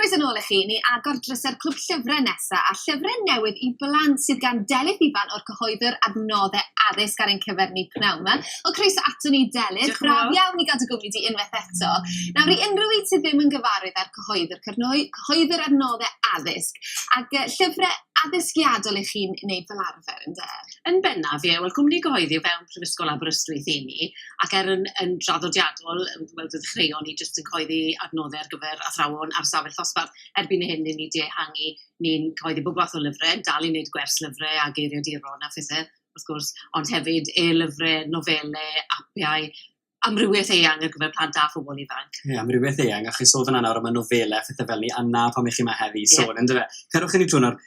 Croeso nôl i chi, ni agor drysau'r clwb llyfrau nesaf a llyfrau newydd i blant sydd gan Delyth Ifan o'r cyhoeddwr adnoddau addysg ar ein cyfer ni pnawn yma. O croeso ato ni Delyth, braf iawn i gadw gwmni di unwaith eto. Nawr i unrhyw un sydd ddim yn gyfarwydd â'r cyhoeddwr, cyrnoi, cyhoeddwr adnoddau addysg, ac uh, llyfrau addysgiadol i chi'n wneud fel arfer, ynde? Yn bennaf, ie. Wel, cwmni gyhoeddi o fewn Prifysgol Aberystwyth i ni, ac er yn yn draddodiadol yym wel dwi'n ddechreuo ni jyst yn coeddi adnodde ar gyfer athrawon ar safell ddosbarth erbyn hyn i ni di ehangu ni'n coeddi bob fath o lyfre dal i neud gwers lyfre a geiriaduron a phethe wrth gwrs ond hefyd e-lyfre nofele apiau amrywieth eang ar gyfer plant a phobol ifanc. Ie, amrywieth eang, a chi'n sôn fan'na nawr am y nofele a phethau fel 'ny, a 'na pam 'ych chi 'ma heddi i sôn yndyfe? Cerwch i ni trwy nawr.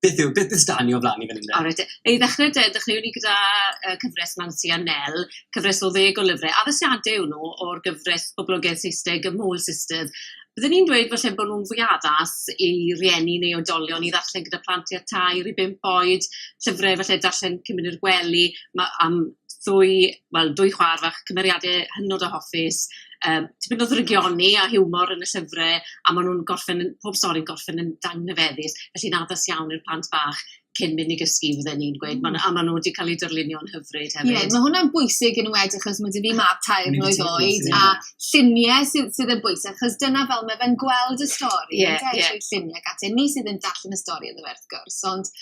Beth yw, beth beth stan ni o flaen ni fan hyn de? Alright te. I ddechrau de, dechreuwn ni gyda uh, cyfres Mansi a Nel, cyfres o ddeg o lyfrau. Addasiadau yw nhw o'r gyfres poblogaeth Saesneg y Mole Sisters. Byddwn ni'n dweud falle bod nhw'n fwy addas i rieni neu oedolion i ddarllen gyda plant i a tair i bimp oed, llyfrau falle darllen cymryd i'r gwely ma, am ddwy, wel, dwy chwaer fach, cymeriade hynod o hoffus, yym tipyn o ddrygioni a hiwmor yn y llyfre, a ma' nw'n gorffen yn, pob stori'n gorffen yn anrhyfeddus, felly'n addas iawn i'r plant bach cyn myn' i gysgu fydden i'n gweud, ma' nw a ma' nw 'di ca'l eu darlunio'n hyfryd hefyd. Ie, ma' hwnna'n bwysig yn enwedig achos ma' 'dy fi mab tair mlwydd oed a llunie sy sydd yn bwysig achos dyna fel ma' fe'n gweld y stori... Ie ie. ...ynde trwy llunie ac ati a ni sydd yn darllen y stori iddo fe wrth gwrs ond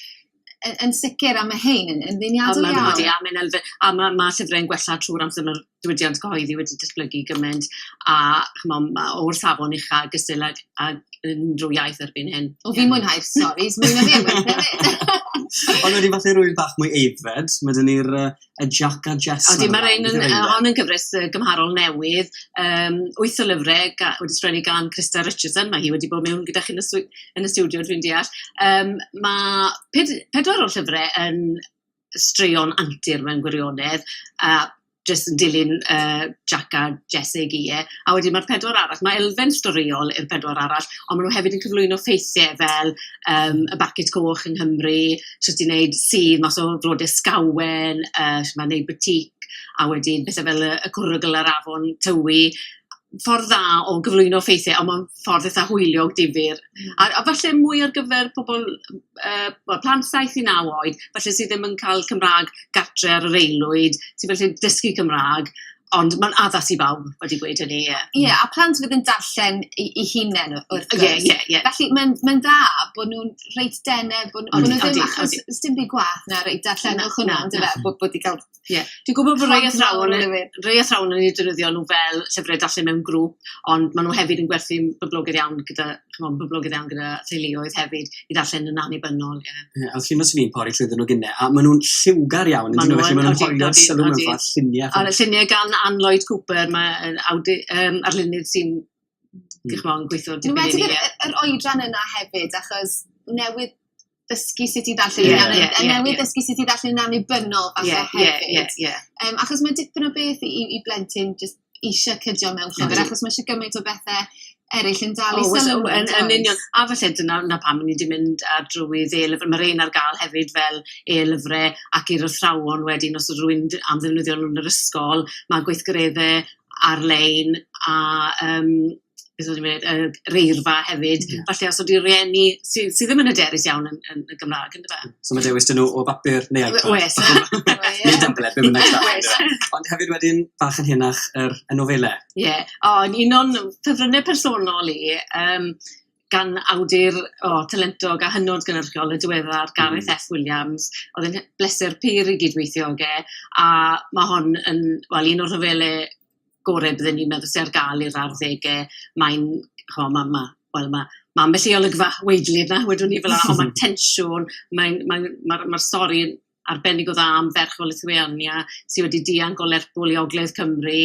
yn, yn sicr, a mae hein yn, yn ddiniadol iawn. Ond mae, a mae'n elfen, a mae, mae llyfrau'n gwella trwy'r amser mae'r diwydiant cyhoeddi wedi disblygu gymaint, a chmo, mae o'r safon ucha gysyll ag, ag unrhyw iaith erbyn hyn. O, fi'n mwynhau'r stories, mwyn o fi, mwyn o fi. Ond wedi falle rwy'n bach mwy eiddfed, mae dyn ni'r uh, a Jac a Jess. Odi, mae'r ein yn, hon yn gyfres gymharol newydd, um, wyth o lyfrau ga, wedi sgwennu gan Christa Richardson, mae hi wedi bod mewn gyda chi yn y, yn y studio, dwi'n deall. Um, mae ped, pedwar o'r llyfrau yn straeon antur mewn gwirionedd, a jyst yn dilyn uh, Jack a Jesse i e. A wedyn mae'r pedwar arall, mae elfen storiol i'r pedwar arall, ond maen nhw hefyd yn cyflwyno ffeithiau fel um, y Barcet Coch yng Nghymru, shwt i wneud sudd mas o flodau scawen, yy shwt mae wneud batik, a wedyn pethe fel y y cwrwgl a'r afon Tywi. Ffordd dda o gyflwyno ffeithiau, ond mae'n ffordd eitha hwyliog difyr. A a falle mwy ar gyfer pobl yy wel plant saith i naw oed, falle sydd ddim yn cael Cymraeg gartre ar yr aelwyd, sy'n gallu dysgu Cymraeg. Ond mae'n addas i bawb, wedi gweud hynny, ie. Ie, a plant fydd yn darllen i, i hunain wrth gwrs. Ie, ie, ie. Felly mae'n mae dda bod nhw'n reit dene, bod nhw ddim achos odi. Does dim byd gwaeth na reit darllenwch hwnna, yn dyfe, bod bod wedi cael... Ie. Dwi'n gwybod bod rhai athrawon yn... rhai athrawon yn eu defnyddio nhw fel llyfrau darllen mewn grŵp, ond maen nhw hefyd yn gwerthu'n boblogaidd iawn gyda chimod, boblogaidd iawn gyda theuluoedd hefyd i ddarllen yn annibynnol, ie. Ie, a felly fysen i'n pori trwyddo nhw gynne, a maen nhw'n lliwgar iawn yn dyn nhw, felly maen nhw'n hollol sylw mewn ffordd lluniau. A lluniau gan Ann Lloyd Cooper, mae awdu, um, arlunydd sy'n hmm. gweithio dipyn i ni. Yn wedi yr oedran yna hefyd, achos newydd dysgu sut i ddarllen yeah, yn yeah, yeah, newydd yeah. dysgu sut i ddarllen yn annibynnol falle yeah, hefyd. Yeah, yeah, yeah. Um, achos mae dipyn o beth i, i blentyn just eisiau cydio mewn llyfr, mm. achos mae eisiau gymaint o bethau eraill yn dal i oh, sylw. Yn, yn union. A falle dyna na pam ni wedi mynd ar drwy dde-lyfr. Mae'r ein ar gael hefyd fel e-lyfrau ac i'r athrawon wedyn os ydw rwy'n am ddefnyddio nhw'n yr ysgol. Mae gweithgareddau ar-lein a um, beth o'n i'n mynd i ddweud, yr eirfa hefyd, falle os ydyw rhieni sy' sy' ddim yn hyderus iawn yn yn y Gymraeg yn dyfe? So ma' dewis 'da nhw o bapur neu iPad? O- oes neu tablet be bynnag sydd angen iddo fe. Ond hefyd wedyn bach yn henach yr y nofele. Ie o yn un o'n ffefrynne personol i yym gan awdur o talentog a hynod gynyrchiol y diweddar Gareth Eff Williams o'dd e'n he- bleser pur i gyd-weithio ag e a ma' hon yn wel un o'r rhyfele gorau bydden ni'n meddwl sydd ar gael i'r arddegau, mae'n, chimod, ma' ma', wel ma' ma' ambell i olygfa weidly yna wedwn i, fela, ond ma'r tensiwn, mae'n mae'n ma'r ma'r stori yn arbennig o dda am ferch o Lithuania sy wedi dianc o Lerpwl i ogledd Cymru,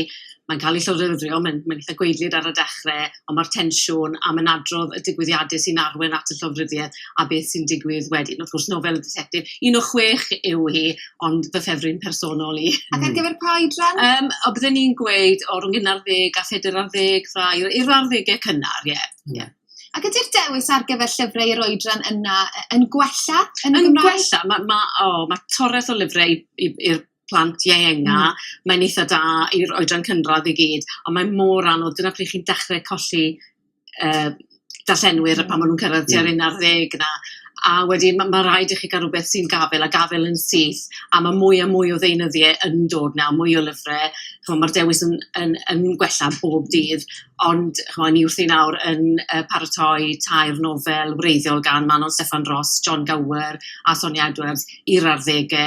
mae'n cael ei llofruddio, mae'n mae'n eitha' gwaedlyd ar y dechre, ond ma'r tensiwn a ma'n adrodd y digwyddiade sy'n arwain at y llofruddiaeth a beth sy'n digwydd wedyn. Wrth gwrs nofel y ditectif, un o chwech yw hi, ond fy ffefryn personol i. Ac ar hmm. gyfer pa oedran? Um, o, bydden ni'n gweud o rhwng un ar ddeg a phedair ar ddeg, rai i'r ar ddegau cynnar, ie. Yeah. Hmm. Yeah. Ac ydy'r dewis ar gyfer llyfrau i'r oedran yna yn gwella yn, yn Gymraeg? gwella, mae ma, oh, ma torres o lyfrau i'r plant ienga, mm. mae'n eitha da i'r oedran cynradd i gyd, ond mae mor anodd, dyna pryd chi'n dechrau colli yy darllenwyr a pan ma' nw'n cyrraedd tua'r un ar ddeg 'na a wedyn ma' ma' raid i chi ga'l rwbeth sy'n gafel a gafel yn syth a ma' mwy a mwy o ddeunyddie yn dod 'na mwy o lyfre ch'mo' ma'r dewis yn yn yn gwella bob dydd ond ch'mo' ni wrthi nawr yn yy paratoi tair nofel wreiddiol gan Manon Steffan Ros, Jon Gower a Sonia Edwards i'r arddege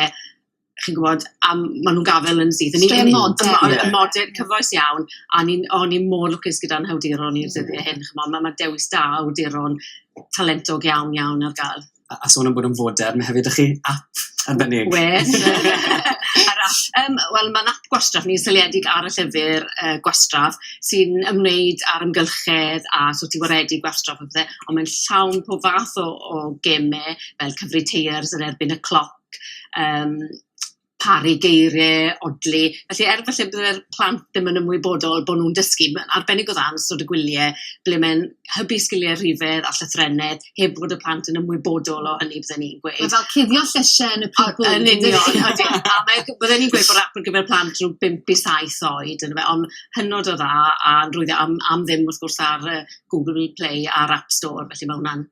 chi'n gwybod, a maen nhw'n gafael yn syth. O'n i'n modern, yeah. modern, cyfoes iawn, a o'n i'n mor lwcus gyda'n hawduron i'r dyddiau hyn, chymod, mae ma dewis da awduron talentog iawn iawn ar gael. A, a sôn am bod yn foder, mae hefyd ych chi app arbennig. Wes. um, Wel, mae'n app gwastraff ni'n seliedig ar y llyfr uh, gwastraff sy'n ymwneud â'r ymgylchedd a sut i waredu gwastraff a bethau, ond mae'n llawn pob fath o, o gemau fel cyfri teiers yn erbyn y cloc yym paru geiriau odli, felly er falle bydde'r plant ddim yn ymwybodol bod nhw'n dysgu, mae'n arbennig o dda yn ystod y gwyliau ble mae'n hybu sgiliau rhifedd a llythrennedd heb fod y plant yn ymwybodol o hynny bydden i'n gweud. Mae fel cuddio llysiau yn y pupur. Yn union, odi. A mae... bydden i'n gweud bod ap ar gyfer plant rhwng bump i saith oed yndyfe, ond hynod o dda a rwyf am am ddim wrth gwrs ar yy Google Play a'r App Store, felly mae hwnna'n